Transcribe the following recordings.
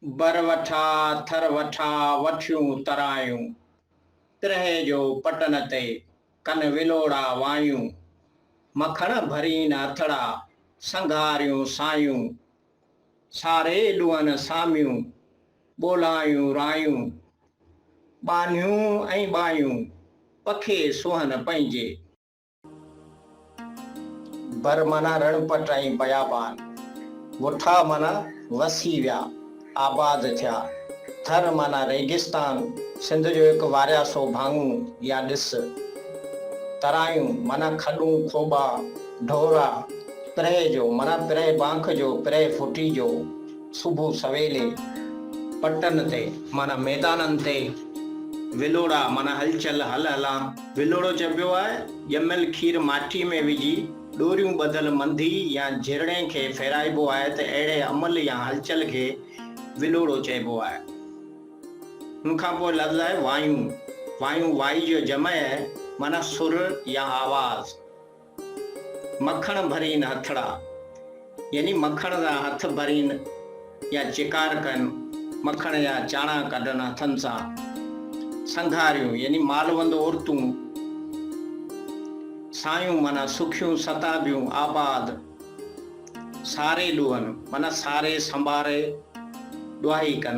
بر وٺا، ٿر وٺا، وٺيون ترايون. ترهي جو پٽن تي، ڪن ولوڙا وايون. مکڻ ڀرين هٿڙا، سنگهاريون سايون. ساري ڏونهن ساميون، ٻولايون رايون. ٻانهيون ۽ ٻايون، پکي سونهن پنهنجي. بر معنيٰ رڻ پٽ ۽ بيابان، وٺا معنيٰ وسي ويا، آباد ٿيا، ٿر معنيٰ ريگستان، سنڌ جو هڪ وارياسو ڀاڱو يا ڏس. ترايون معنيٰ کڏون، کوٻا، ڍورا. پرهه جو معنيٰ پرهه بانک جو، پرهه ڦٽي جو، صبح سويلي. پٽن تي معنيٰ ميدانن تي. ولوڙا معنيٰ هلچل، هل هلان. ولوڙو چئبو آهي، ڄميل کير ماٺي ۾ وجهي ڏوريون ٻڌل منڌي يا جهرڙين کي ڦيرائبو آهي ته اهڙي عمل يا هلچل کي ولوڙو چئبو آهي. ان کان پوء لفظ آهي وايون. وايون وائي جو جمع آهي معنيٰ سر يا آواز. مکڻ ڀرين هٿڙا، يعني مکڻ سان هٿ ڀرين يا چڪار ڪن، مکڻ يا چاڻا ڪڍن هٿن سان. سنگهاريون، يعني مالوند عورتون. سايون، معنيٰ سکيون ستابيون، آباد. ساري ڏوهن، معنيٰ ساري سنباري ڏوهائي ڪن.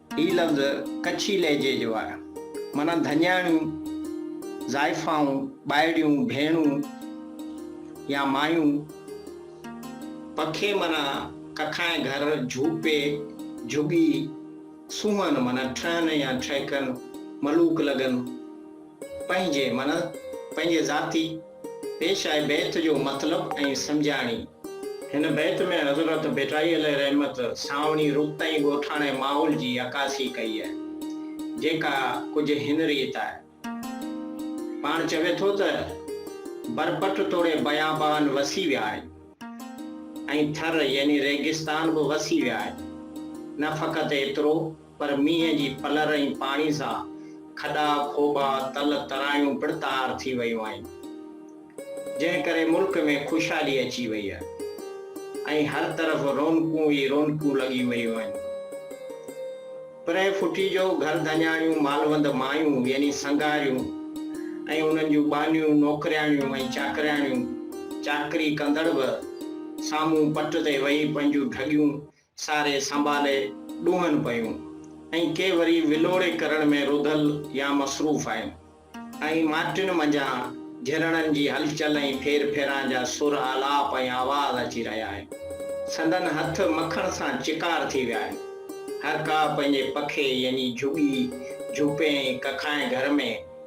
هي لفظ ڪڇي لهجي جو آهي. معنيٰ ڌڃاڻيون، زائفائون، ٻائڙيون، ڀيڻون يا مايون. پکي معنيٰ ڪکائين گهر، جهوپي، جهڳي، سونهن معنيٰ ٽھن يا ٺهڪن، ملوڪ لڳن، پنهنجي معنيٰ پنهنجي ذاتي. پيش آهي بيت جو مطلب ۽ سمجهاڻي. هن بيت ۾ حضرت ڀٽائي عليه رحمت سانوڻي رخ تائين ڳوٺاڻي ماحول جي عڪاسي ڪئي آهي، جيڪا ڪجهه هن ريت آهي. پاڻ چوي ٿو ته، برپٺ توڙي بيابان وسي ويا آهن ۽ ٿر يعني ريگستان به وسي ويا آهن. نه فقط ايترو. پر مينهن جي پلر ۽ پاڻي سان کڏا، کوٻا، تل ترايون پڻ تار ٿي ويون آهن، جنهن ڪري ملڪ ۾ خوشحالي اچي وئي آهي ۽ هر طرف رونقون ئي رونقون لڳي ويون آهن. پرينء ڦٽي جو گهر ڌڃاڻيون مالوند مايون يعني سنگاريون ۽ انهن جون ٻانهيون نوڪرياڻيون ۽ چاڪرياڻيون چاڪري ڪندڙ به سامهون پٽ تي ويهي پنهنجون ڍڳيون ساري سنڀالي ڏونهن پيون ۽ ڪي وري ولوڙي ڪرڻ ۾ رڌل يا مصروف آهن ۽ ماٽين منجهان جهرڻن جي هلچل ۽ ڦير ڦيران جا سر، آلاپ ۽ آواز اچي رهيا آهن. سندن هٿ مکڻ سان چڪار ٿي ويا آهن. هر ڪا پنهنجي پکي يعني جهڳي، جهوپي ۽ ڪکائين گهر ۾.